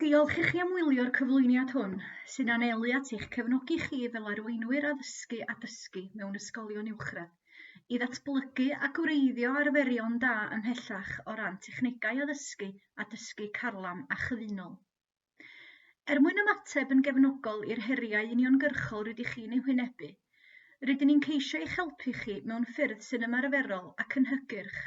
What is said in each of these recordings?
Diolch i chi am wylio'r cyflwyniad hwn, sy'n anelu at eich cefnogi chi fel arweinwyr addysgu a dysgu mewn ysgolion uwchradd, i ddatblygu a gwreiddio arferion da ymhellach o ran technegau addysgu a dysgu carlam a chyfunol. Er mwyn ymateb yn gefnogol i'r heriau uniongyrchol rydych chi'n eu hwynebu, rydyn ni'n ceisio eich helpu chi mewn ffyrdd sy'n ymarferol ac yn hygyrch.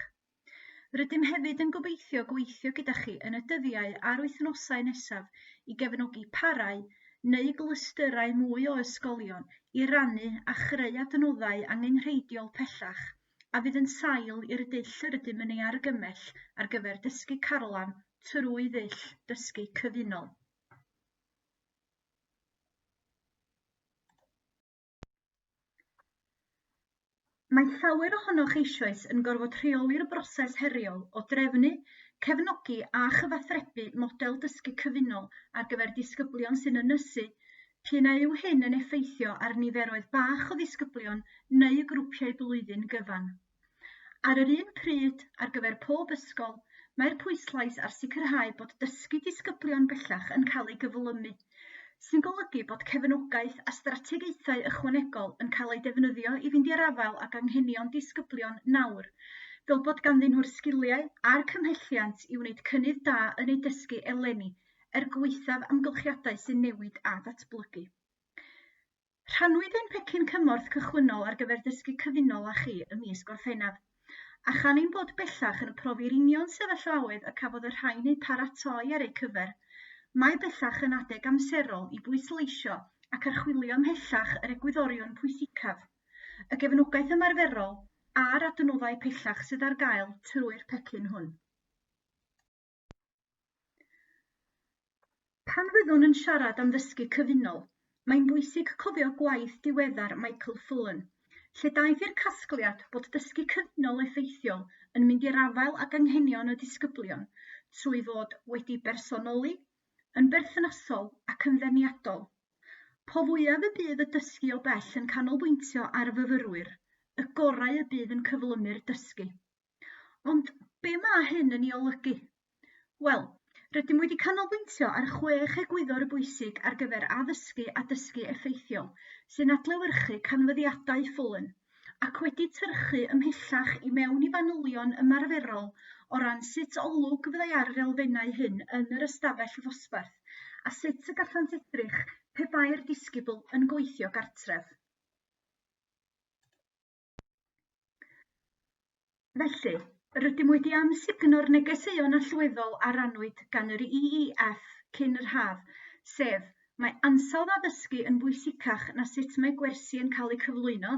Rydym hefyd yn gobeithio gweithio gyda chi yn y dyddiau a'r wythnosau nesaf i gefnogi parau neu glystyrau mwy o ysgolion i rannu a chreu adnoddau angenrheidiol pellach a fydd yn sail i'r dull yr ydym yn ei argymell ar gyfer dysgu carlam trwy ddull dysgu cyfunol. Mae llawer ohonoch eisoes yn gorfod rheoli'r broses heriol o drefnu, cefnogi a chyfathrebu model dysgu cyfunol ar gyfer disgyblion sy'n ynysu, P'un a yw hyn yn effeithio ar niferoedd bach o ddisgyblion neu y grwpiau blwyddyn gyfan. Ar yr un pryd, ar gyfer pob ysgol, mae'r pwyslais ar sicrhau bod dysgu disgyblion bellach yn cael ei gyflymu, sy'n golygu bod cefnogaeth a strategaethau ychwanegol yn cael eu defnyddio i fynd i'r afael ag anghenion disgyblion nawr, fel bod ganddyn nhw'r sgiliau a'r cymhelliant i wneud cynnydd da yn eu dysgu eleni er gwaethaf amgylchiadau sy'n newid a datblygu. Rhannwyd ein pecyn cymorth cychwynnol ar gyfer dysgu cyfunol â chi ym mis Gorffennaf, a chan ein bod bellach yn profi'r union sefyllfaoedd y cafodd y rhain eu paratoi ar eu cyfer, mae bellach yn adeg amserol i bwysleisio ac archwilio ymhellach yr egwyddorion pwysicaf, y gefnogaeth ymarferol a'r adnoddau pellach sydd ar gael trwy'r pecyn hwn. Pan fyddwn yn siarad am ddysgu cyfunol, mae'n bwysig cofio gwaith diweddar Michael Fullan, lle daeth i'r casgliad bod dysgu cyfunol effeithiol yn mynd i'r afael ag anghenion y disgyblion trwy fod wedi bersonoli, yn berthnasol ac yn ddeniadol. Po fwyaf y bydd y dysgu o bell yn canolbwyntio ar fyfyrwyr, y gorau y bydd yn cyflymu'r dysgu. Ond be ma' hyn yn 'i olygu? Wel rydym wedi canolbwyntio ar chwech egwyddor bwysig ar gyfer addysgu a dysgu effeithiol sy'n adlewyrchu canfyddiadau Fullan ac wedi tyrchu ymhellach i mewn i fanylion ymarferol o ran sut olwg fyddai ar yr elfennau hyn yn yr ystafell ddosbarth a sut y gallant edrych pe bai'r disgybl yn gweithio gartref. Felly, rydym wedi amsugno'r negeseuon allweddol a rannwyd gan yr EEF cyn yr haf, sef mae ansawdd addysgu yn bwysicach na sut mae gwersi yn cael eu cyflwyno,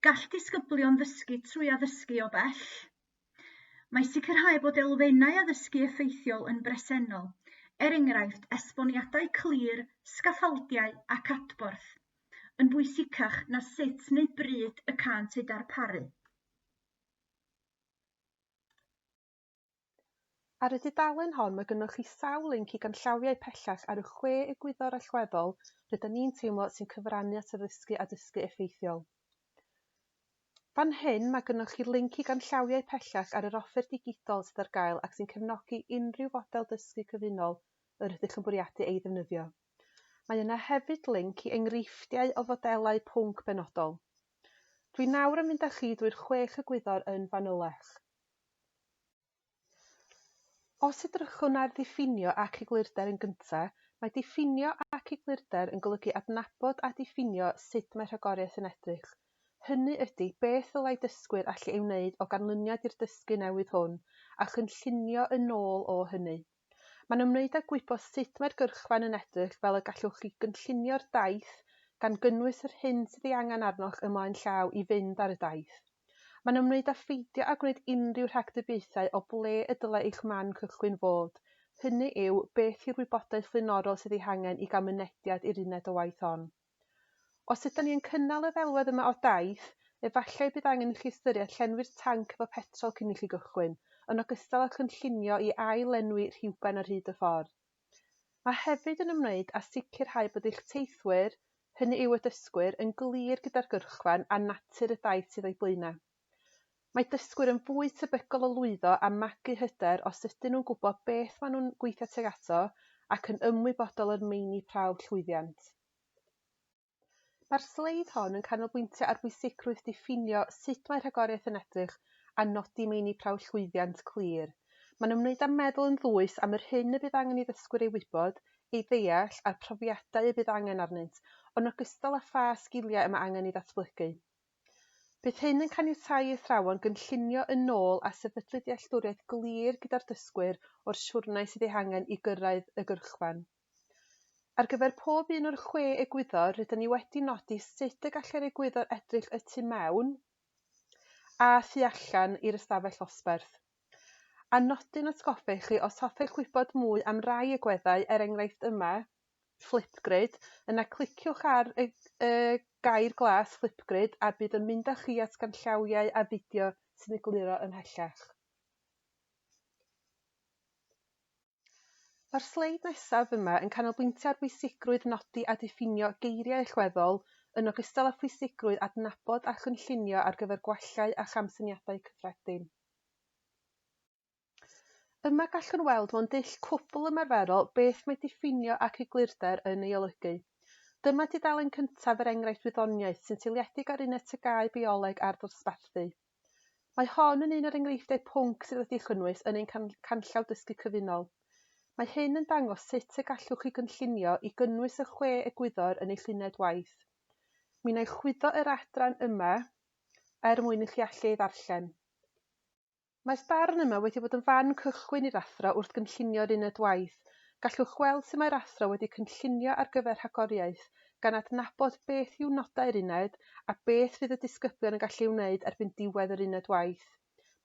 gall disgyblion ddysgu trwy addysgu o bell, Mae sicrhau bod elfennau addysgu effeithiol yn bresennol, er enghraifft esboniadau clir, sgaffaldiau ac adborth, yn bwysicach na sut neu bryd y cânt eu darparu. Ar y dudalen hon mae gynnoch chi sawl linc i ganllawiau pellach ar y chwe egwyddor allweddol rydyn ni'n teimlo sy'n cyfrannu at addysgu a dysgu effeithiol. Fan hyn, mae gynnoch chi linc i ganllawiau pellach ar yr offer digidol sydd ar gael ac sy'n cefnogi unrhyw fodel dysgu cyfunol yr ydych yn bwriadu ei ddefnyddio. Mae yna hefyd linc i enghreifftiau o fodelau pwnc benodol. Dwi nawr yn mynd â chi drwy'r chwech egwyddor yn fanylach. Os edrychwn ar ddiffinio ac eglurder yn gyntaf, mae diffinio ac eglurder yn golygu adnabod a diffinio sut mae rhagoriaeth yn edrych. Hynny ydy, beth ddylai dysgwyr allu ei wneud o ganlyniad i'r dysgu newydd hwn, a chynllunio yn ôl o hynny. Mae'n ymwneud â gwybod sut mae'r gyrchfan yn edrych fel y gallwch chi gynllunio'r daith, gan gynnwys yr hyn sydd ei angen arnoch ymlaen llaw i fynd ar y daith. Mae'n ymwneud â pheidio â gwneud unrhyw rhagdybiaethau o ble y dylai eich man cychwyn fod, hynny yw, beth yw'r wybodaeth flaenorol sydd ei hangen i gael mynediad i'r uned o waith hon. Os ydan ni yn cynnal y ddelwedd yma o daith, efallai y bydd angen i chi ystyried llenwi'r tanc efo petrol cyn i chi gychwyn, yn ogystal â chynllunio i ail-lenwi rhywben ar hyd y ffordd. a hefyd yn ymwneud â sicrhau bod eich teithwyr, hynny yw y dysgwyr, yn glir gyda'r gyrchfan a natur y daith sydd o'u blaenau. Mae dysgwyr yn fwy tebygol o lwyddo a magu hyder os ydyn nhw'n gwybod beth maen nhw'n gweithio tuag ato ac yn ymwybodol o'r meini prawf llwyddiant. Mae'r sleid hon yn canolbwyntio ar bwysigrwydd diffinio sut mae rhagoriaeth yn edrych a nodi meini prawf llwyddiant clir. Mae'n ymwneud â meddwl yn ddwys am yr hyn y bydd angen i ddysgwyr ei wybod, ei ddeall a'r profiadau y bydd angen arnynt, yn ogystal â pha sgiliau y mae angen i ddatblygu. Bydd hyn yn caniatáu i athrawon gynllunio yn ôl a sefydlu dealltwriaeth glir gyda'r dysgwyr o'r siwrnai sydd eu hangen i gyrraedd y gyrchfan. Ar gyfer pob un o'r chwe egwyddor, rydyn ni wedi nodi sut y gallai'r egwyddor edrych y tu mewn a thu allan i'r ystafell ddosbarth. A nodyn atgoffa i chi, os hoffech wybod mwy am rai egweddau, er enghraifft yma, Flipgrid, yna cliciwch ar y y gair glas Flipgrid a bydd yn mynd â chi at ganllawiau a fideo sy'n egluro ymhellach. Mae'r sleid nesaf yma yn canolbwyntio ar bwysigrwydd nodi a diffinio geiriau allweddol, yn ogystal â phwysigrwydd adnabod a chynllunio ar gyfer gwallau a chamsyniadau cyffredin. Yma gallwn weld mewn dull cwbl ymarferol beth mae diffinio ac eglurder yn ei olygu. Dyma dudalen cyntaf yr enghraifft wyddoniaeth sy'n seiliedig ar uned TGAU Bioleg a'r Dosbarthu. Mae hon yn un o'r enghreifftiau pwnc sydd wedi'u chynnwys yn ein Canllaw Dysgu Cyfunol. Mae hyn yn dangos sut y gallwch chi gynllunio i gynnwys y chwe egwyddor yn eich lluniaid waith. Mi wna i chwyddo yr adran yma er mwyn i chi allu ei ddarllen. Mae'r darn yma wedi bod yn fan cychwyn i'r athro wrth gynllunio'r uned waith. Gallwch weld sut mae'r athro wedi cynllunio ar gyfer rhagoriaeth, gan adnabod beth yw nodau'r uned a beth fydd y disgyblion yn gallu ei wneud erbyn diwedd yr uned waith.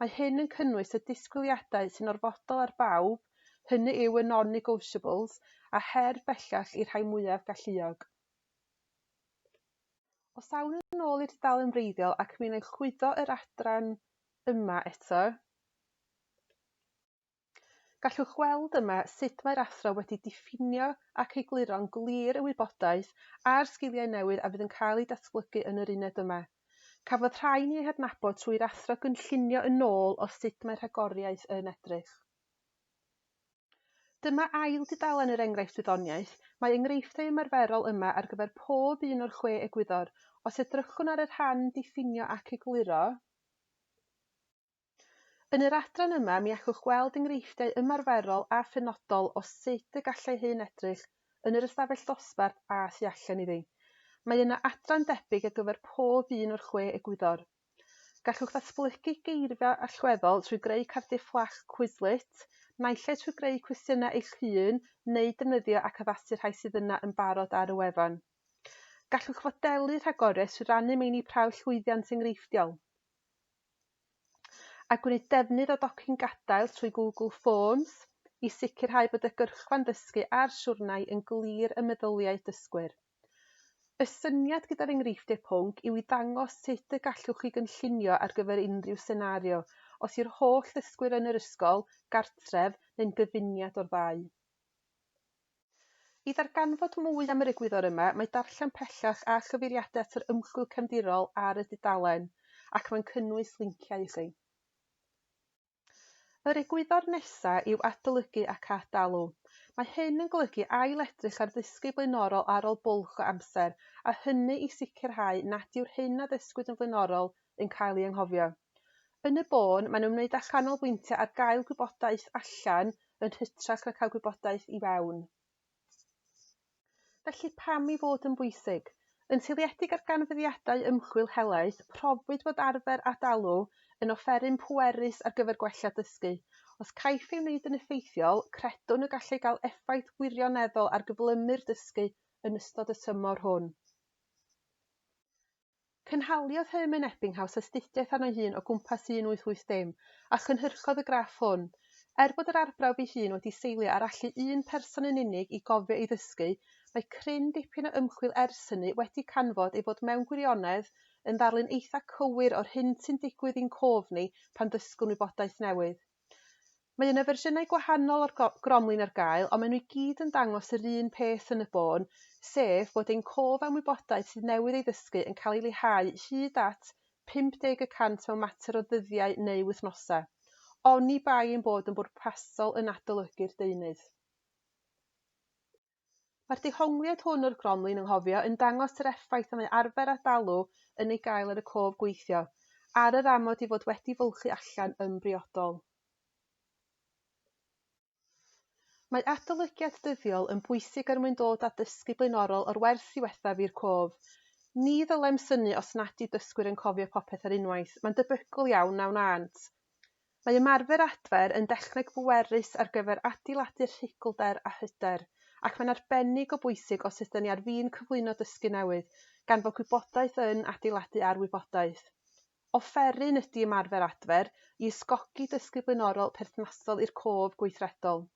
Mae hyn yn cynnwys y disgwyliadau sy'n orfodol ar bawb, hynny yw y non-negotiables, a her bellach i'r rhai mwyaf galluog. Os awn yn ôl i'r dudalen wreiddiol ac mi'n ailchwyddo yr adran yma eto, Gallwch weld yma sut mae'r athro wedi diffinio ac egluro'n glir y wybodaeth a'r sgiliau newydd a fydd yn cael eu datblygu yn yr uned yma. Cafodd rhain eu hadnabod trwy'r athro gynllunio yn ôl o sut mae rhagoriaeth yn edrych. Dyma ail dudalen yr enghraifft wyddoniaeth. Mae enghreifftiau ymarferol yma ar gyfer pob un o'r chwe egwyddor. Os edrychwn ar y rhan Diffinio ac Egluro, Yn yr adran yma mi allwch weld enghreifftiau ymarferol a phenodol o sut y gallai hyn edrych yn yr ystafell ddosbarth a thu allan iddi. Mae yna adran debyg ar gyfer pob un o'r chwe egwyddor. Gallwch ddatblygu geirfa allweddol trwy greu cardiau fflach Quizlet, naill ai trwy greu cwestiynau eich hun neu defnyddio ac addasu rhai sydd yna yn barod ar y wefan. Gallwch fodelu rhagoriaeth trwy rannu meini prawf llwyddiant enghreifftiol. a gwneud defnydd o docyn gadael trwy Google Forms i sicrhau bod y gyrchfan ddysgu a'r siwrnai yn glir ym meddyliau dysgwyr. Y syniad gyda'r enghreifftiau pwnc yw i ddangos sut y gallwch chi gynllunio ar gyfer unrhyw senario, os yw'r holl ddysgwyr yn yr ysgol, gartref neu'n gyfuniad o'r ddau. I ddarganfod mwy am yr egwyddor yma, mae darllen pellach a chyfeiriadau at yr ymchwil cefndirol ar y dudalen, ac mae'n cynnwys linciau i chi. Yr egwyddor nesaf yw adolygu ac ad-dalu. Mae hyn yn golygu ail-edrych ar ddysgu blaenorol ar ôl bwlch o amser, a hynny i sicrhau nad yw'r hyn a ddysgwyd yn flaenorol yn cael ei anghofio. Yn y bôn, maen nhw'n wneud â chanolbwyntio ar gael gwybodaeth allan yn hytrach na cael gwybodaeth i fewn. Felly, pam ei fod yn bwysig? Yn seiliedig ar ganfyddiadau ymchwil helaeth, profwyd fod arfer ad-alw yn offeryn pwerus ar gyfer gwella dysgu. Os caiff ei wneud yn effeithiol, credwn y gallai gael effaith wirioneddol ar gyflymu'r dysgu yn ystod y tymor hwn. Cynhaliodd Herman Ebbinghaus astudiaeth arno'i hun o gwmpas 1880, a chynhyrchodd y graff hwn. Er bod yr arbrawf ei hun wedi seilio ar allu un person yn unig i gofio ei ddysgu, mae cryn dipyn o ymchwil ers hynny wedi canfod ei fod mewn gwirionedd yn ddarlun eitha' cywir o'r hyn sy'n digwydd i'n cof ni pan ddysgwn wybodaeth newydd. Mae yna fersiynau gwahanol o'r gromlin ar gael, ond maen nhw i gyd yn dangos yr un peth yn y bôn, sef bod ein cof a'n wybodaeth sydd newydd ei ddysgu yn cael ei leihau hyd at 50 y cant mewn mater o ddyddiau neu wythnosau, oni bai ein bod yn bwrpasol yn adolygu'r deunydd. Mae'r dehongliad hwn o'r gronlun ynghofio yn dangos yr effaith y mae arfer a dalw yn ei gael ar y cof gweithio, ar yr amod i fod wedi fylchu allan yn briodol. Mae adolygiad dyddiol yn bwysig er mwyn dod â dysgu blaenorol o'r wers ddiwethaf i'r cof. Ni ddylem synnu os nad yw dysgwyr yn cofio popeth ar unwaith, mae'n debygol iawn na wnânt. Mae ymarfer adfer yn dechneg bwerus ar gyfer adeiladu rhuglder a hyder, ac mae'n arbennig o bwysig os ydyn ni ar fin cyflwyno dysgu newydd, gan fod gwybodaeth yn adeiladu ar wybodaeth. Offeryn ydy ymarfer adfer i ysgogi dysgu blaenorol perthnasol i'r cof gweithredol.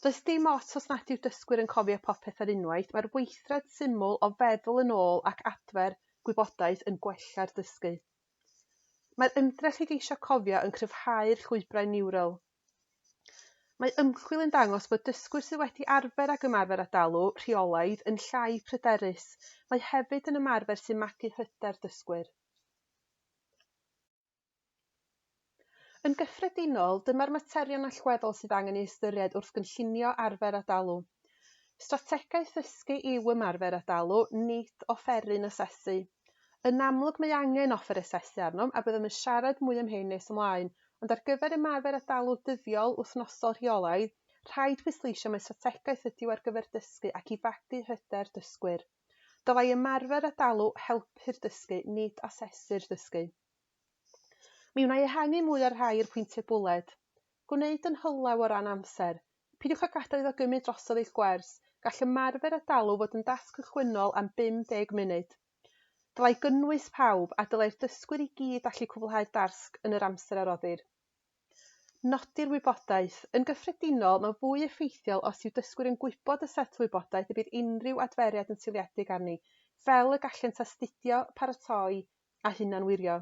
Does dim ots os nad yw dysgwyr yn cofio popeth ar unwaith, mae'r weithred syml o feddwl yn ôl ac adfer gwybodaeth yn gwella'r dysgu. Mae'r ymdrech i geisio cofio yn cryfhau'r llwybrau niwral. Mae ymchwil yn dangos bod dysgwyr sydd wedi arfer ag ymarfer â dalu rheolaidd yn llai pryderus. Mae hefyd yn ymarfer sy'n magu hyder dysgwyr. Yn gyffredinol, dyma'r materion allweddol sydd angen ei ystyried wrth gynllunio arfer ad-alw. Strategaeth ddysgu yw ymarfer ad-alw, nid offeryn asesu. Yn amlwg mae angen offer asesu arnom a byddem yn siarad mwy am hyn nes ymlaen, ond ar gyfer ymarfer ad-alw dyddiol, wythnosol, rheolaidd, rhaid pwysleisio mai strategaeth ydyw ar gyfer dysgu ac i fagu hyder dysgwyr. Dylai ymarfer ad-alw helpu'r dysgu, nid asesu'r dysgu. Mi wna i ehangu mwy o'r rhai i'r pwyntiau bwled. Gwneud yn hylaw o ran amser. Peidiwch â gadael iddo gymryd drosodd eich gwers. Gall ymarfer a dalw fod yn dasg cychwynnol am 50 munud. Dylai gynnwys pawb, a dylai'r dysgwyr i gyd allu cwblhau'r dasg yn yr amser a roddir. Nodi'r wybodaeth. Yn gyffredinol, mae'n fwy effeithiol os yw dysgwyr yn gwybod y set wybodaeth y bydd unrhyw adferiad yn seiliedig arni, fel y gallent astudio, paratoi, a hunanwirio.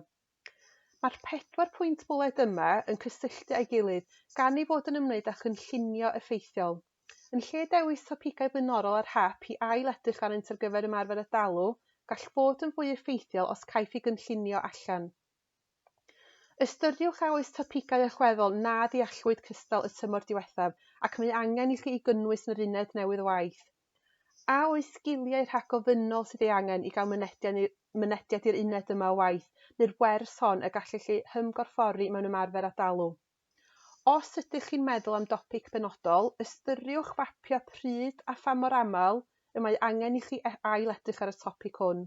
Mae'r pedwar pwynt bwled yma yn cysylltu â'i gilydd gan ei fod yn ymwneud â chynllunio effeithiol. Yn lle dewis topigau blaenorol ar hap i ail-edrych arnynt ar gyfer ymarfer a dalu, gall fod yn fwy effeithiol os caiff ei gynllunio allan. Ystyriwch a oes topigau allweddol na ddeallwyd cystal y tymor diwethaf ac mae angen i chi eu gynnwys yn yr uned newydd o waith. A oes sgiliau rhagofynnol sydd ei angen i gael mynediad i'r mynediad i'r uned yma o waith neu'r wers hon y gallech eu hymgorffori mewn ymarfer ad-alw? Os ydych chi'n meddwl am dopic benodol, ystyriwch fapio pryd a pha mor aml y mae angen i chi e- ail-edrych ar y topig hwn.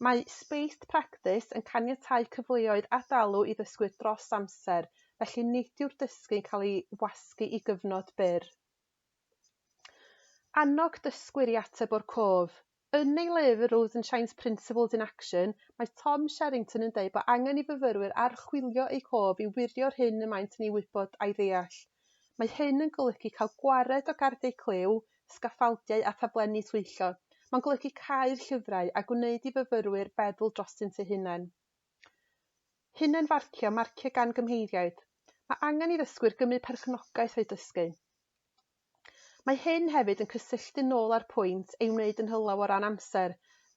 Mae Spaced Practice yn caniatáu cyfleoedd ad-alw i ddysgwyr dros amser, felly nid yw'r dysgu yn cael ei wasgu i gyfnod byr. Annog dysgwyr i ateb o'r cof. Yn ei lyfr Rows and Shines, Principles in Action, mae Tom Sherrington yn dweud bod angen i fyfyrwyr archwilio eu cof i wirio'r hyn y maent yn ei wybod a'i ddeall. Mae hyn yn golygu cael gwared o gardiau clyw, sgaffaldiau a thaflenni twyllo. Mae'n golygu cau'r llyfrau a gwneud i fyfyrwyr feddwl drostynt eu hunain. Hunan-farcio, marcio gan gymheiriaid. Mae angen i ddysgwyr gymryd perchnogaeth o'u dysgu. Mae hyn hefyd yn cysylltu'n ôl â'r pwynt ei wneud yn hylaw o ran amser,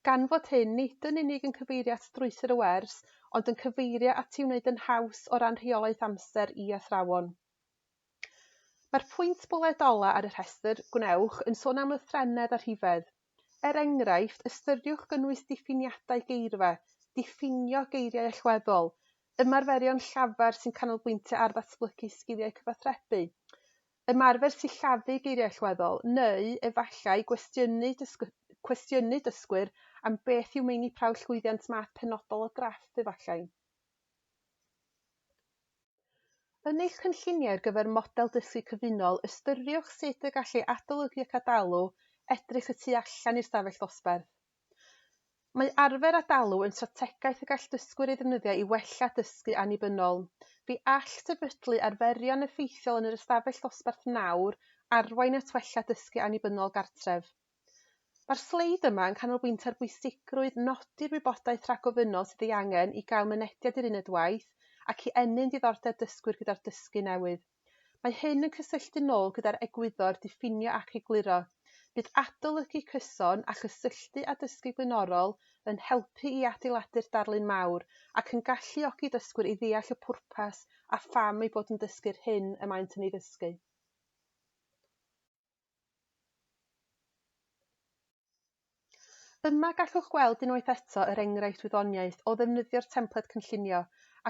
gan fod hyn nid yn unig yn cyfeirio at strwythur y wers, ond yn cyfeirio at ei wneud yn haws o ran rheolaeth amser i athrawon. Mae'r pwynt bwled ola' ar y rhestr, gwnewch, yn sôn am lythrennedd a rhifedd. Er enghraifft, ystyriwch gynnwys diffiniadau geirfa, diffinio geiriau allweddol, ymarferion llafar sy'n canolbwyntio ar ddatblygu sgiliau cyfathrebu, ymarfer sillafu geiriau allweddol, neu, efallai, gwestiynu cwestiynu dysgwyr am beth yw meini prawf llwyddiant math penodol o graff, efallai. Yn eich cynlluniau ar gyfer model dysgu cyfunol, ystyriwch sut y gallai adolygu ac adalw edrych y tu allan i'r stafell ddosbarth. Mae arfer adalw yn strategaeth y gall dysgwyr ei ddefnyddio i wella dysgu annibynnol. Fe all sefydlu arferion effeithiol yn yr ystafell ddosbarth nawr arwain at wella dysgu annibynnol gartref. Mae'r sleid yma yn canolbwyntio ar bwysigrwydd nodi'r wybodaeth rhagofynnol sydd ei angen i gael mynediad i'r uned waith ac i ennyn diddordeb dysgwyr gyda'r dysgu newydd. Mae hyn yn cysylltu'n ôl gyda'r egwyddor 'diffinio ac egluro'. Bydd adolygu cyson a chysylltu â dysgu blaenorol yn helpu i adeiladu'r darlun mawr ac yn galluogi dysgwyr i ddeall y pwrpas a pham eu bod yn dysgu'r hyn y maent yn ei ddysgu. Yma gallwch weld unwaith eto yr enghraifft wyddoniaeth o ddefnyddio'r templed cynllunio,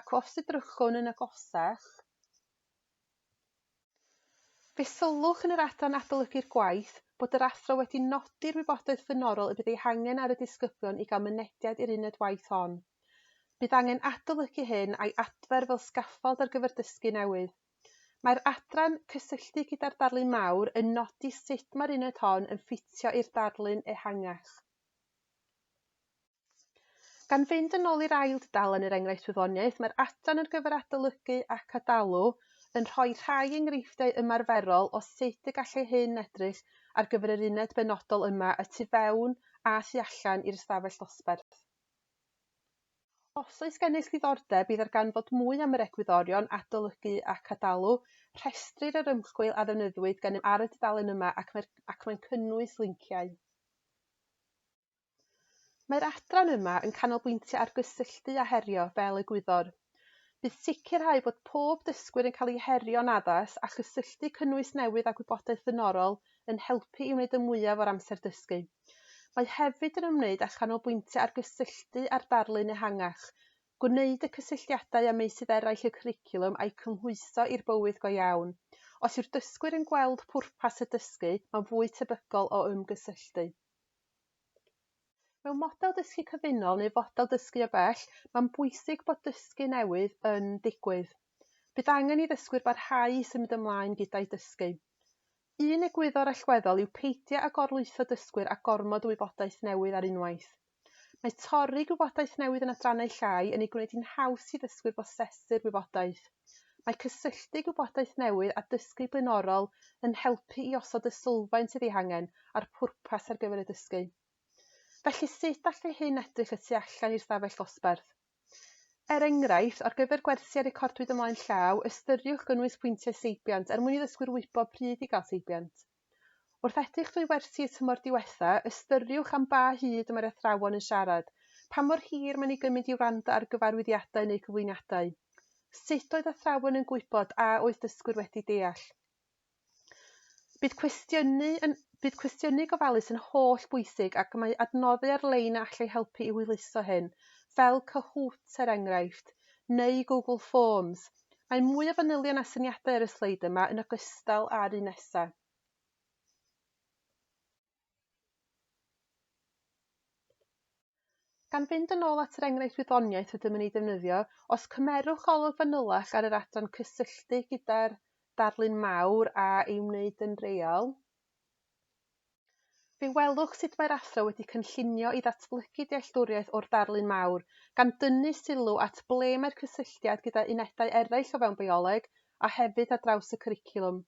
ac os edrychwn yn agosach, fe sylwch yn yr adran Adolygu'r Gwaith bod yr athro wedi nodi'r wybodaeth flaenorol y bydd ei hangen ar y disgyblion i gael mynediad i'r uned waith hon. Bydd angen adolygu hyn a'i adfer fel sgaffald ar gyfer dysgu newydd. Mae'r adran Cysylltu gyda'r Darlun Mawr yn nodi sut mae'r uned hon yn ffitio i'r darlun ehangach. Gan fynd yn ôl i'r ail dudalen yr Enghraifft Wyddoniaeth, mae'r adran ar gyfer Adolygu ac Adalw yn rhoi rhai enghreifftiau ymarferol o sut y gallai hyn edrych ar gyfer yr uned benodol yma y tu fewn a thu allan i'r ystafell ddosbarth. Os oes gennych ddiddordeb, bydd ar ganfod mwy am yr egwyddorion adolygu ac ad-dalu. Rhestrir yr ymchwil a ddefnyddiwyd gennym ar y dudalen yma ac mae'r ac mae'n cynnwys linciau. Mae'r adran yma yn canolbwyntio ar gysylltu a herio fel egwyddor. Bydd sicrhau bod pob dysgwyr yn cael eu herio'n addas a chysylltu cynnwys newydd â gwybodaeth flaenorol yn helpu i wneud y mwyaf o'r amser dysgu. Mae hefyd yn ymwneud â chanolbwyntio ar gysylltu â'r darlun ehangach, gwneud y cysylltiadau â meysydd eraill y cwricwlwm a'u cymhwyso i'r bywyd go iawn. Os yw'r dysgwyr yn gweld pwrpas y dysgu, mae'n fwy tebygol o ymgysylltu. Mewn model dysgu cyfunol neu fodel dysgu o bell, mae'n bwysig bod dysgu newydd yn digwydd. Bydd angen i ddysgwyr barhau i symud ymlaen gyda'u dysgu. Un egwyddor allweddol yw peidio â gorlwytho dysgwyr â gormod o wybodaeth newydd ar unwaith. Mae torri gwybodaeth newydd yn adrannau llai yn ei gwneud hi'n haws i ddysgwyr brosesu'r wybodaeth. Mae cysylltu gwybodaeth newydd â dysgu blaenorol yn helpu i osod y sylfaen sydd ei hangen a'r pwrpas ar gyfer y dysgu. Felly sut all hyn edrych y tu allan i'r stafell ddosbarth? Er enghraifft, ar gyfer gwersiau recordwyd ymlaen llaw, ystyriwch gynnwys pwyntiau seibiant er mwyn i ddysgwyr wybod pryd i gael seibiant. Wrth edrych drwy wersi y tymor diwetha', ystyriwch am ba hyd y mae'r athrawon yn siarad, pa mor hir mae'n ei gymryd i wrando ar gyfarwyddiadau neu gyflwyniadau. Sut oedd athrawon yn gwybod a oedd dysgwyr wedi deall? Bydd cwestiynu yn Bydd cwestiynu gofalus yn holl bwysig ac mae adnoddu ar-lein yn allai helpu i hwyluso hyn, fel Kahoot, er enghraifft, neu Google Forms, Mae mwy o fanylion a syniadau ar y sleid yma yn ogystal â'r un nesaf. Gan fynd yn ôl at yr enghraifft wyddoniaeth rydym yn ei ddefnyddio, os cymerwch olwg fanylach ar yr adran cysylltu gyda'r darlun mawr a'i wneud yn real, Fe welwch sut mae'r Athro wedi cynllunio i ddatblygu dealltwriaeth o'r darlun mawr, gan dynnu sylw at ble mae'r cysylltiad gyda unedau eraill o fewn bioleg, a hefyd ar draws y cwricwlwm.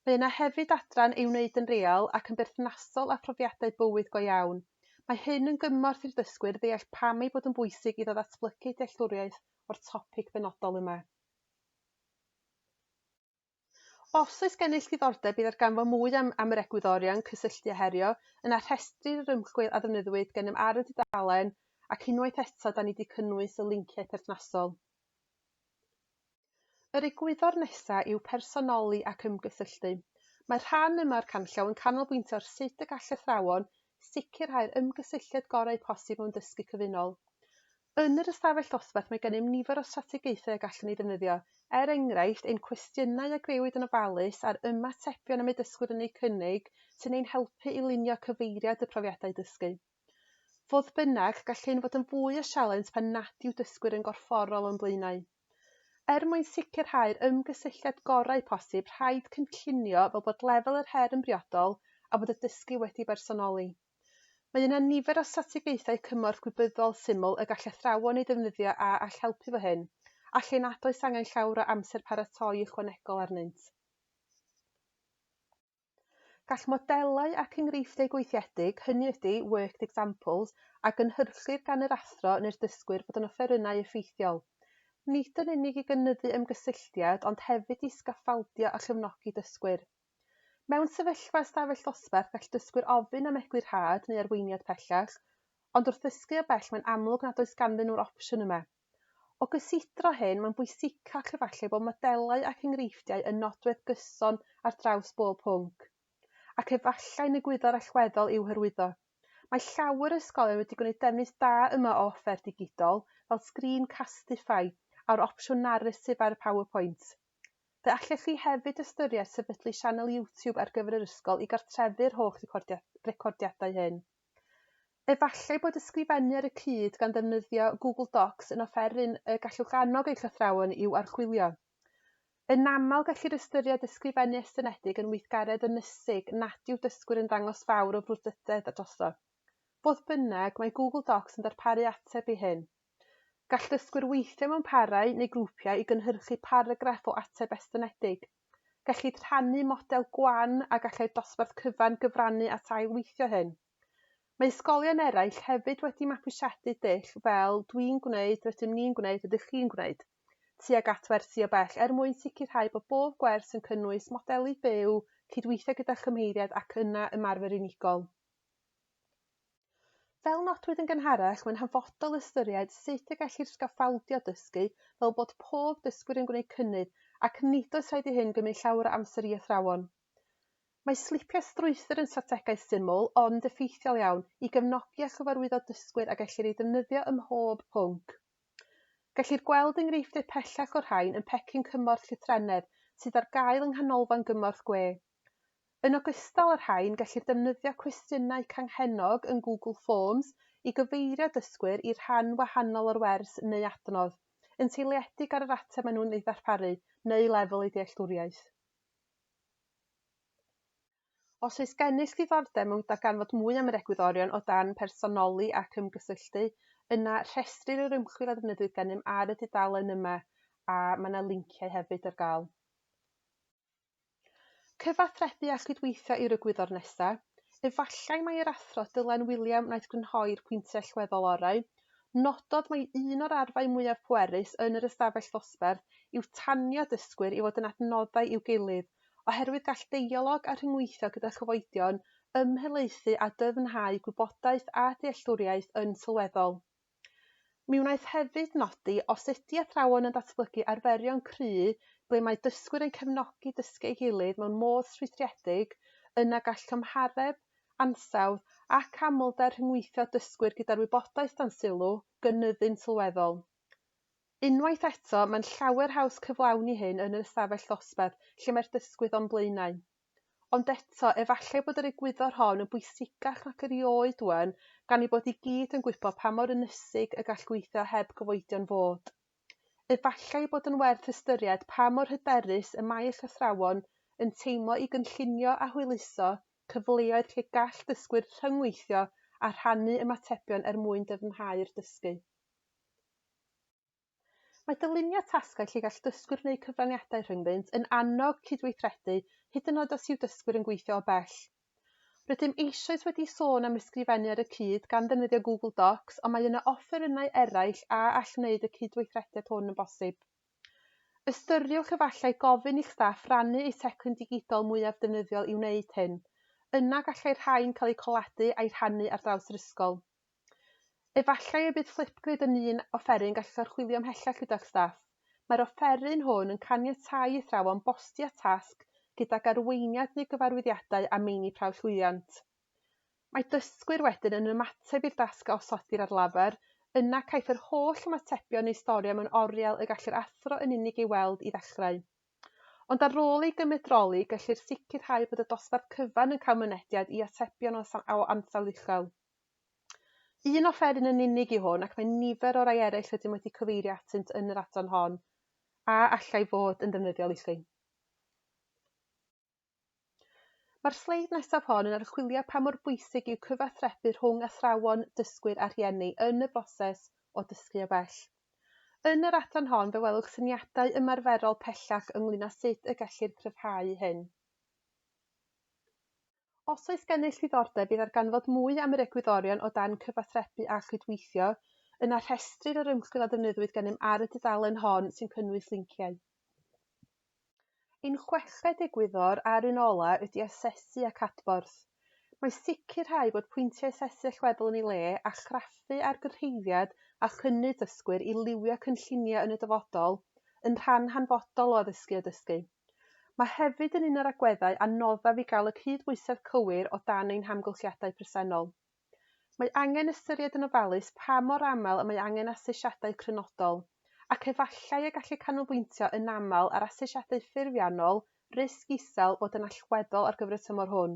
Mae yna hefyd adran ei wneud yn real ac yn berthnasol â phrofiadau bywyd go iawn. Mae hyn yn gymorth i'r dysgwyr ddeall pam ei bod yn bwysig iddo ddatblygu dealltwriaeth o'r topig benodol yma. Os oes gennych ddiddordeb i ddarganfod mwy am am yr egwyddorion cysylltu a herio, yna rhestrir yr ymchwil a ddefnyddiwyd gennym ar y dudalen, ac unwaith eto da ni wedi cynnwys y linciau perthnasol. Yr egwyddor nesaf yw personoli ac ymgysylltu. Mae'r rhan yma o'r canllaw yn canolbwyntio ar sut y gall athrawon sicrhau'r ymgysylltiad gorau posib mewn dysgu cyfunol. Yn yr ystafell ddosbarth mae gennym nifer o strategaethau y gallwn eu defnyddio, er enghraifft, ein cwestiynau a grëwyd yn ofalus a'r ymatebion y mae dysgwyr yn eu cynnig sy'n ein helpu i lunio cyfeiriad y profiadau dysgu. Fodd bynnag, gall hyn fod yn fwy o sialens pan nad yw dysgwyr yn gorfforol o'n blaenau. Er mwyn sicrhau'r ymgysylltiad gorau posib, rhaid cynllunio fel bod lefel yr her yn briodol a bod y dysgu wedi bersonoli. Mae yna nifer o strategaethau cymorth gwybyddol syml y gall athrawon eu defnyddio a all helpu fo hyn, a lle nad oes angen llawr o amser paratoi ychwanegol arnynt. Gall modelau ac enghreifftiau gweithiedig, hynny ydi, worked examples, a gynhyrchir gan yr athro neu'r dysgwyr fod yn offerynnau effeithiol, nid yn unig i gynyddu ymgysylltiad ond hefyd i sgaffaldio a chefnogi dysgwyr. Mewn sefyllfa ystafell ddosbarth gall dysgwyr ofyn am egwyl rhad neu arweiniad pellach, ond wrth ddysgu o bell mae'n amlwg nad oes ganddyn nhw'r opsiwn yma. O gysidro hyn, mae'n bwysicach efallai bod modelau ac enghreifftiau yn nodwedd gyson ar draws bob pwnc. Ac efallai yn egwyddor allweddol i'w hyrwyddo. Mae llawer o ysgolion wedi gwneud defnydd da yma o offer digidol fel Screencastify a'r opsiwn Narrative ar y PowerPoint. Fe allech chi hefyd ystyried sefydlu sianel YouTube ar gyfer yr ysgol i gartrefu'r holl recordiadau hyn. Efallai bod ysgrifennu ar y cyd gan ddefnyddio Google Docs yn offeryn y gallwch annog eich athrawon i'w archwilio. Yn aml, gellir ystyried ysgrifennu estynedig yn weithgaredd ynysig nad yw dysgwyr yn dangos fawr o frwdfrydedd drosto. Fodd bynnag, mae Google Docs yn darparu ateb i hyn. Gall dysgwyr weithio mewn parau neu grwpiau i gynhyrchu paragraff o ateb estynedig. Gellid rhannu model gwan a gallai'r dosbarth cyfan gyfrannu at ail-weithio hyn. Mae ysgolion eraill hefyd wedi mapwysiadu dull fel 'dwi'n gwneud, rydym ni'n gwneud, rydych chi'n gwneud' tuag at wersi o bell er mwyn sicrhau bod bob gwers yn cynnwys modelu byw, cydweithio gyda chymheiriaid ac yna ymarfer unigol. Fel nodwyd yn gynharach, mae'n hanfodol ystyried sut y gellir sgaffaldio dysgu fel bod pob dysgwr yn gwneud cynnydd ac nid oes rhaid i hyn gymryd llawer o amser i athrawon. Mae slipiau strwythur yn strategaeth syml, ond effeithiol iawn, i gefnogi a chyfarwyddo dysgwyr a gellir ei ddefnyddio ym mhob pwnc. Gellir gweld enghreifftiau pellach o'r rhain yn pecyn cymorth llythrennedd sydd ar gael yng Nghanolfan Gymorth Gwe. Yn ogystal â'r rhain, gellir defnyddio cwestiynau canghennog yn Google Forms i gyfeirio dysgwyr i rhan wahanol o'r wers neu adnodd, yn seiliedig ar yr ateb maen nhw'n ei ddarparu neu lefel eu dealltwriaeth. Os oes gennych ddiddordeb mewn darganfod mwy am yr egwyddorion o dan Personoli ac Ymgysylltu, yna rhestrir yr ymchwil a ddefnyddiwyd gennym ar y dudalen yma, a mae yna linciau hefyd ar gael. Cyfathrebu a chydweithio yw'r egwyddor nesaf. Efallai mai yr Athro Dylan Wiliam wnaeth grynhoi'r pwyntiau allweddol orau. Nododd mai un o'r arfau mwyaf pwerus yn yr ystafell ddosbarth yw tanio dysgwyr i fod yn adnoddau i'w gilydd, oherwydd gall deialog a rhyngweithio gyda chyfoedion ymhelaethu a dyfnhau gwybodaeth a dealltwriaeth yn sylweddol. Mi wnaeth hefyd nodi, os ydy athrawon yn datblygu arferion cry ble mae dysgwyr yn cefnogi dysgu ei gilydd mewn modd strwythuredig, yna gall cymhareb, ansawdd ac amlder rhyngweithio dysgwyr gyda'r wybodaeth dan sylw gynyddu'n sylweddol. Unwaith eto, mae'n llawer haws cyflawni hyn yn yr ystafell ddosbarth lle mae'r dysgwydd o'n blaenau. Ond eto, efallai bod yr egwyddor hon yn bwysicach nac erioed ŵan, gan ei bod i gyd yn gwybod pa mor ynysig y gall gweithio heb gyfoedion fod. Efallai ei bod yn werth ystyried pa mor hyderus y mae llythrawon yn teimlo i gynllunio a hwyluso cyfleoedd lle gall dysgwyr rhyngweithio a rhannu ymatebion er mwyn dyfnhau'r dysgu. Mae dylunio tasgau lle gall dysgwyr wneud cyfraniadau rhyngddynt yn annog cydweithredu, hyd yn oed os yw dysgwyr yn gweithio o bell. Rydym eisoes wedi sôn am ysgrifennu ar y cyd, gan ddefnyddio Google Docs, ond mae yna offerynnau eraill a all wneud y cydweithrediad hwn yn bosib. Ystyriwch efallai gofyn i'ch staff rannu eu teclyn digidol mwyaf defnyddiol i wneud hyn. Yna gallai rhain cael eu coladu a'u rhannu ar draws yr ysgol. Efallai y bydd Flipgrid yn un offeryn gallwch archwilio ymhellach gyda'ch staff. Mae'r offeryn hwn yn caniatáu i athrawon bosti â tasg gydag arweiniad neu gyfarwyddiadau a meini prawf llwyddiant. Mae dysgwyr wedyn yn ymateb i'r dasg a osodir ar lafar, yna caiff yr holl ymatebion neu storio mewn oriel y gall yr athro yn unig ei weld i ddechrau. Ond ar ôl ei gymedroli, gellir sicrhau bod y dosbarth cyfan yn cael mynediad i atebion o ansawdd uchel. Un offeryn yn unig yw hwn, ac mae nifer o rai eraill rydym wedi cyfeirio atynt yn yr adran hon a allai fod yn ddefnyddiol i chi. Mae'r sleid nesaf hon yn archwilio pa mor bwysig yw cyfathrebu rhwng athrawon, dysgwyr a rhieni yn y broses o dysgu o bell. Yn yr adran hon fe welwch syniadau ymarferol pellach ynglŷn â sut y gellir cryfhau hyn. Os oes gennych ddiddordeb i ddarganfod mwy am yr egwyddorion o dan cyfathrebu a chydweithio, yna rhestrir yr ymchwil a ddefnyddwyd gennym ar y dudalen hon sy'n cynnwys linciau. Ein chweched egwyddor a'r un ola' ydy asesu ac adborth. Mae sicrhau bod pwyntiau asesu allweddol yn ei le, a chraffu ar gyrhaeddiad a chynnydd dysgwyr i liwio cynlluniau yn y dyfodol, yn rhan hanfodol o addysgu a dysgu. Mae hefyd yn un o'r agweddau anoddaf i gael y cydbwysedd cywir o dan ein hamgylchiadau presennol. Mae angen ystyried yn ofalus pa mor aml y mae angen asesiadau crynodol, ac efallai y gallu canolbwyntio yn aml ar asesiadau ffurfiannol risg isel fod yn allweddol ar gyfer y tymor hwn,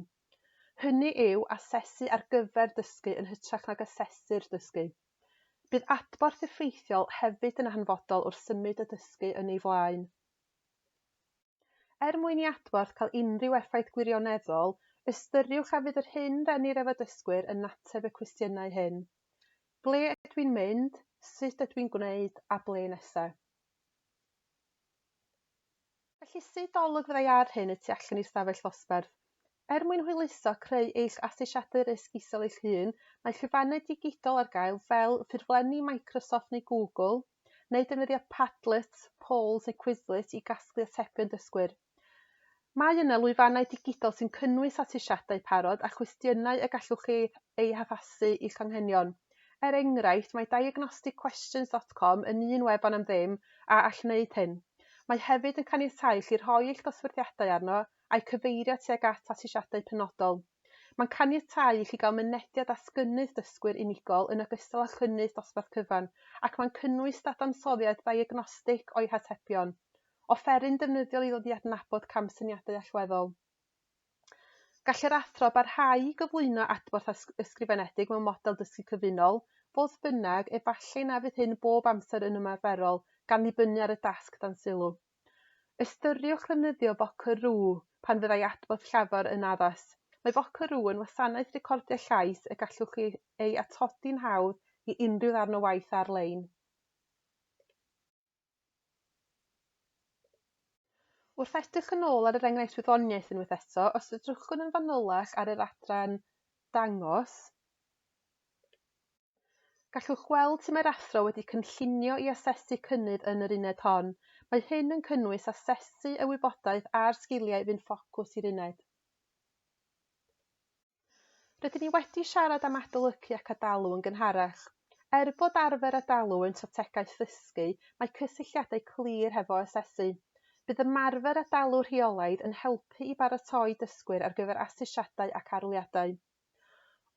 hynny yw, asesu ar gyfer dysgu yn hytrach nag asesu'r dysgu. Bydd adborth effeithiol hefyd yn hanfodol wrth symud y dysgu yn ei flaen. Er mwyn i adborth cael unrhyw effaith gwirioneddol, ystyriwch hefyd yr hyn rennir ef y dysgwyr yn ateb y cwestiynau hyn, Ble ydw i'n mynd? Sut ydw i'n gwneud? a Ble nesa? Felly, sut olwg fyddai ar hyn y tu allan i'r stafell ddosbarth? Er mwyn hwyluso creu eich asesiadau risg isel eich hun, mae llwyfannau digidol ar gael fel ffurflenni Microsoft neu Google, neu defnyddio Padlet, Polls neu Quizlet i gasglu atebion dysgwyr. Mae yna lwyfannau digidol sy'n cynnwys asesiadau parod a chwestiynau y gallwch chi eu haddasu i'ch anghenion. Er enghraifft, mae diagnosticquestions dot com yn un wefan am ddim a all wneud hyn. Mae hefyd yn caniatáu i chi rhoi eich dosbarthiadau arno a'u cyfeirio tuag at asesiadau penodol. Mae'n caniatáu i chi gael mynediad at gynnydd dysgwyr unigol yn ogystal â chynnydd dosbarth cyfan, ac mae'n cynnwys dadansoddiad ddiagnostig o'u hatebion. Offeryn defnyddiol i ddod i adnabod camsyniadau allweddol. Gall yr athro barhau i gyflwyno adborth ysgrifenedig mewn model dysgu cyfunol, fodd bynnag, efallai na fydd hyn bob amser yn ymarferol, gan ddibynnu ar y dasg dan sylw. Ystyriwch ddefnyddio Vocaroo pan fyddai adborth llafar yn addas. Mae Vocaroo yn wasanaeth recordio llais y gallwch chi ei atodi'n hawdd i unrhyw ddarn o waith ar-lein. Wrth edrych yn ôl ar yr enghraifft wyddoniaeth unwaith eto, os edrychwn yn fanylach ar yr adran 'Dangos', Gallwch weld sut mae'r Athro wedi cynllunio i asesu cynnydd yn yr uned hon. Mae hyn yn cynnwys asesu y wybodaeth a'r sgiliau fu'n ffocws i'r uned. Rydyn ni wedi siarad am adolygu ac adalw yn gynharach. Er bod arfer adalw yn strategaeth ddysgu, mae cysylltiadau clir hefo asesu. Bydd ymarfer adalw rheolaidd yn helpu i baratoi dysgwyr ar gyfer asesiadau ac arholiadau.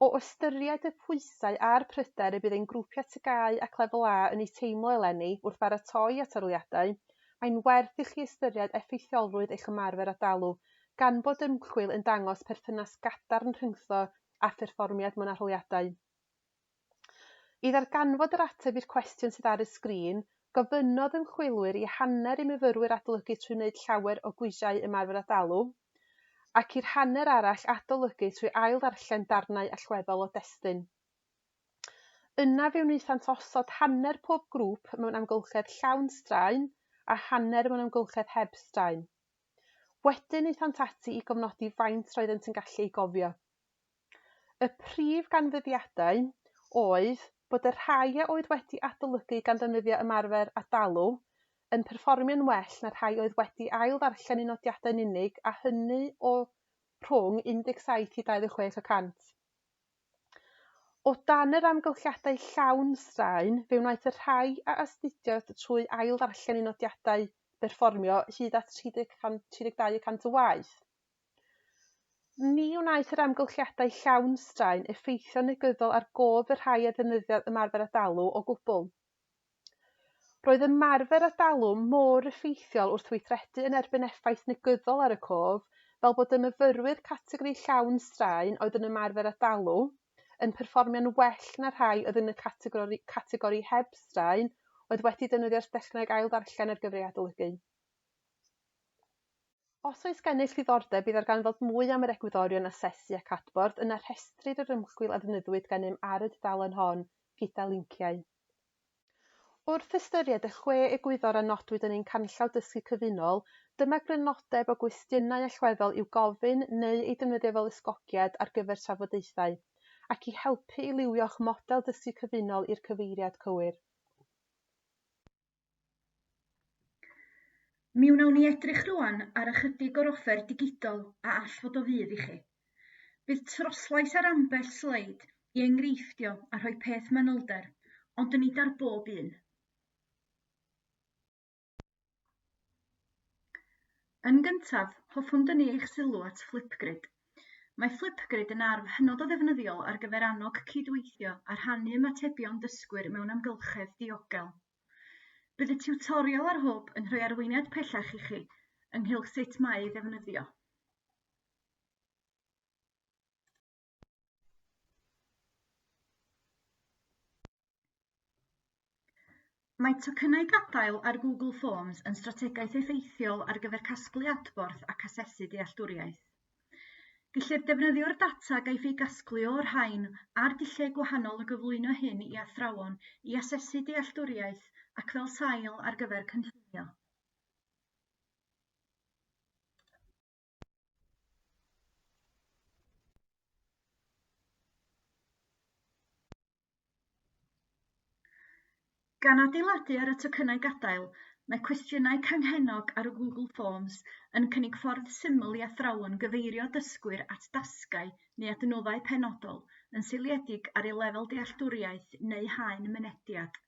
O ystyried y pwysau a'r pryder y bydd ein grwpiau TGAU ac Lefel A yn eu teimlo eleni wrth baratoi at arholiadau, mae'n werth i chi ystyried effeithiolrwydd eich ymarfer a dalw, gan bod ymchwil yn dangos perthynas gadarn rhyngtho a pherfformiad mewn arholiadau. I ddarganfod yr ateb i'r cwestiwn sydd ar y sgrin, gofynnodd ymchwilwyr i hanner i myfyrwyr adolygu trwy wneud llawer o gwisiau ymarfer a dalu, ac i'r hanner arall adolygu trwy ail-ddarllen darnau allweddol o destun. Yna fe wnaethant osod hanner pob grŵp mewn amgylchedd llawn straen a hanner mewn amgylchedd heb straen. Wedyn aethant ati i gofnodi faint roeddent yn gallu ei gofio. Y prif ganfyddiadau oedd bod y rhai a oedd wedi adolygu gan ddefnyddio ymarfer a dalw, yn perfformio'n well na'r rhai oedd wedi ail-ddarllen eu nodiadau yn unig a hynny o rhwng 17 i 26 y cant. O dan yr amgylchiadau llawn straen, fe wnaeth y rhai a astudiodd trwy ail-ddarllen eu nodiadau berfformio hyd at 32 y cant o waith. Ni wnaeth yr amgylchiadau llawn straen effeithio'n negyddol ar gof y rhai a ddefnyddiodd ymarfer adalw o gwbl. Roedd ymarfer adalw mor effeithiol wrth weithredu yn erbyn effaith negyddol ar y cof fel bod y myfyrwyr categori llawn straen oedd yn ymarfer adalw yn perfformio'n well na'r rhai oedd yn y categori categori heb straen oedd wedi defnyddio'r dechneg ail-ddarllen ar gyfer ei adolygu. Os oes gennych ddiddordeb i ddarganfod mwy am yr egwyddorion asesu ac adborth, yna rhestrir yr ymchwil a ddefnyddiwyd gennym ar y dudalen hon, gyda linciau. Wrth ystyried y chwe egwyddor a nodwyd yn ein Canllaw Dysgu Cyfunol, dyma grynodeb o gwestiynau allweddol i'w gofyn neu eu defnyddio fel ysgogiad ar gyfer trafodaethau, ac i helpu i liwio'ch model dysgu cyfunol i'r cyfeiriad cywir. Mi wnawn ni edrych rŵan ar ychydig o'r offer digidol a all fod o fudd i chi. Bydd troslais ar ambell sleid i enghreiffdio a rhoi peth manylder, ond nid ar bob un. Yn gyntaf, hoffwn dynnu eich sylw at Flipgrid. Mae Flipgrid yn arf hynod o ddefnyddiol ar gyfer annog cydweithio a rhannu ymatebion dysgwyr mewn amgylchedd diogel. Bydd y tiwtorial a'r hwb yn rhoi arweiniad pellach i chi ynghylch sut mae ei ddefnyddio. Mae tocynnau gadael ar Google Forms yn strategaeth effeithiol ar gyfer casglu adborth ac asesu dealltwriaeth. Gellir defnyddio'r data a gaiff ei gasglu o'r rhain a'r dulliau gwahanol o gyflwyno hyn i athrawon i asesu dealltwriaeth ac fel sail ar gyfer cynllunio. Gan adeiladu ar y tocynnau gadael, mae cwestiynau canghennog ar y Google Forms yn cynnig ffordd syml i athrawon gyfeirio dysgwyr at dasgau neu adnoddau penodol yn seiliedig ar eu lefel dealltwriaeth neu haen mynediad.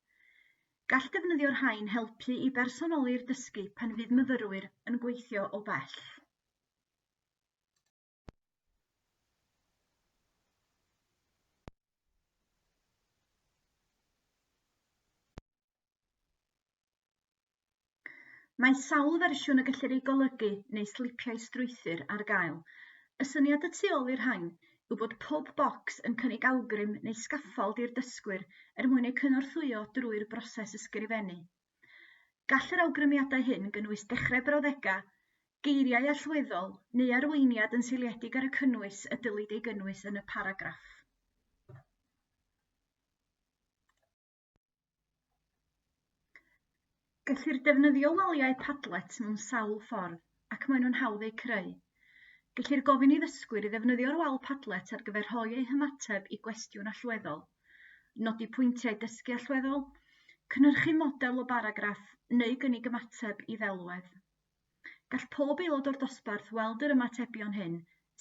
Gall defnyddio rhain helpu i bersonoli'r dysgu pan fydd myfyrwyr yn gweithio o bell. Mae sawl fersiwn y gellir eu golygu neu slipiau strwythur ar gael. Y syniad y tu ôl i'r rhain yw bod pob bocs yn cynnig awgrym neu sgaffald i'r dysgwyr er mwyn eu cynorthwyo drwy'r broses ysgrifennu. Gall yr awgrymiadau hyn gynnwys dechrau brawddegau, geiriau allweddol, neu arweiniad yn seiliedig ar y cynnwys y dylid ei gynnwys yn y paragraff. Gellir defnyddio waliau Padlet mewn sawl ffordd, ac maen nhw'n hawdd eu creu. Gellir gofyn i ddysgwyr i ddefnyddio'r wal Padlet ar gyfer rhoi eu hymateb i gwestiwn allweddol, nodi pwyntiau dysgu allweddol, cynhyrchu model o baragraff neu gynnig ymateb i ddelwedd. Gall pob aelod o'r dosbarth weld yr ymatebion hyn,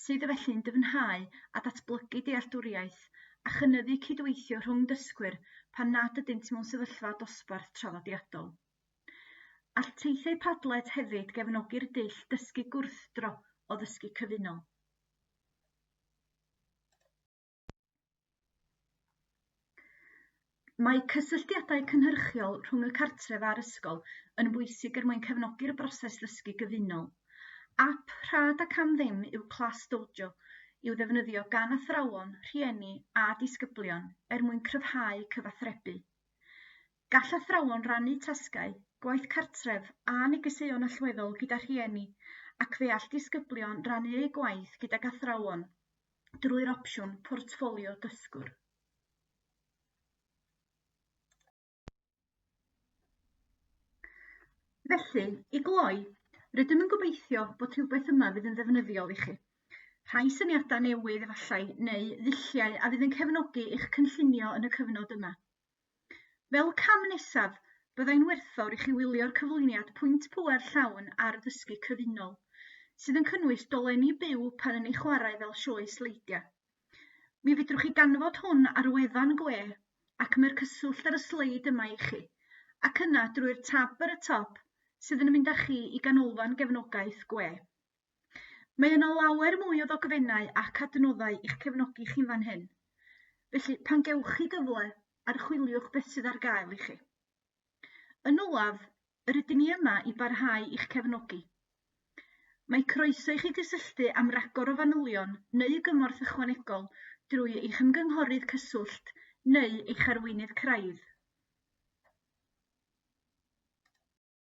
sydd felly'n dyfnhau a datblygu dealltwriaeth a chynyddu cydweithio rhwng dysgwyr pan nad ydynt mewn sefyllfa dosbarth traddodiadol. All teithiau Padlet hefyd gefnogi'r dull dysgu gwrthdro o ddysgu cyfunol. Mae cysylltiadau cynhyrchiol rhwng y cartref a'r ysgol yn bwysig er mwyn cefnogi'r broses ddysgu gyfunol. Ap rhad ac am ddim yw Class Dojo i'w ddefnyddio gan athrawon, rhieni a disgyblion er mwyn cryfhau cyfathrebu. Gall athrawon rannu tasgau, gwaith cartref a negeseuon allweddol gyda rhieni ac fe all disgyblion rannu eu gwaith gydag athrawon. drwy'r opsiwn Portffolio Dysgwr. Felly, i gloi, rydym yn gobeithio bod rhywbeth yma fydd yn ddefnyddiol i chi. Rhai syniadau newydd efallai, neu ddulliau a fydd yn cefnogi eich cynllunio yn y cyfnod yma. Fel cam nesaf, byddai'n werthfawr i chi wylio'r cyflwyniad Pwynt Pŵer Llawn ar Ddysgu Cyfunol, sydd yn cynnwys dolenni byw pan yn ei chwarae fel sioe sleidiau. Mi fedrwch chi ganfod hwn ar wefan gwe ac mae'r cyswllt ar y sleid yma i chi, ac yna drwy'r tab ar y top sydd yn mynd â chi i ganolfan gefnogaeth gwe. Mae yna lawer mwy o ddogfennau ac adnoddau i'ch cefnogi chi'n fan hyn, felly pan gewch chi gyfle, archwiliwch beth sydd ar gael i chi. Yn olaf, yr ydyn ni yma i barhau i'ch cefnogi. Mae croeso i chi gysylltu am ragor o fanylion neu gymorth ychwanegol drwy eich ymgynghorydd cyswllt neu eich arweinydd craidd.